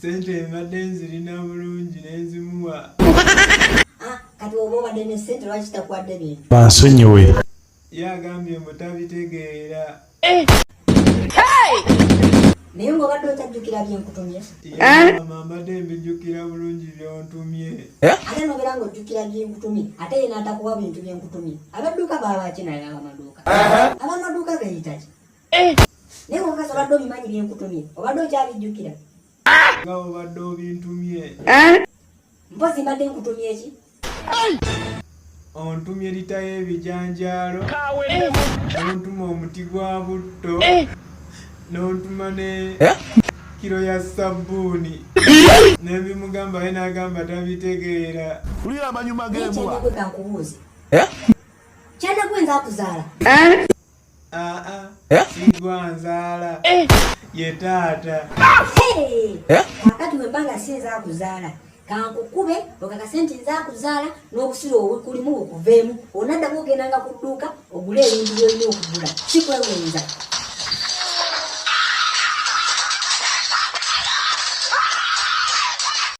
sente mbadde nzirina bulungi nenzimuwa bansonyiwe yagambye mbu tabitegeera eh. naye nga obadde otajjukira byenkutumye eh? mbadde mbijjukira bulungi byontumye eh? ate nobeera nga ojjukira byenkutumye ate yena atakuwa bintu byenkutumye abadduuka baabaki naye abamaduuka abamaduuka gayitaki Eh! naye mukazi obadde obimanyi byenkutumye obadde okyabijjukira nga obadde obintumye eh? mpozi mbadde nkutumye eki ontumye lita y'ebijanjaalo eh! nontuma omuti gwa butto eh! nontuma ne kiro ya sabbuuni nebimugamba ye nagamba tabitegeera ulira amanyuma gembwa kyanagwe nzakuzaala sigwanzaala eh? ye taata eh? kakati wembanga si nzakuzaala kankukube okakase nti nzakuzaala n'obusiru obukulimu bukuveemu onaddamu ogendanga ku dduuka ogule ebintu byolina okugula sikwewenza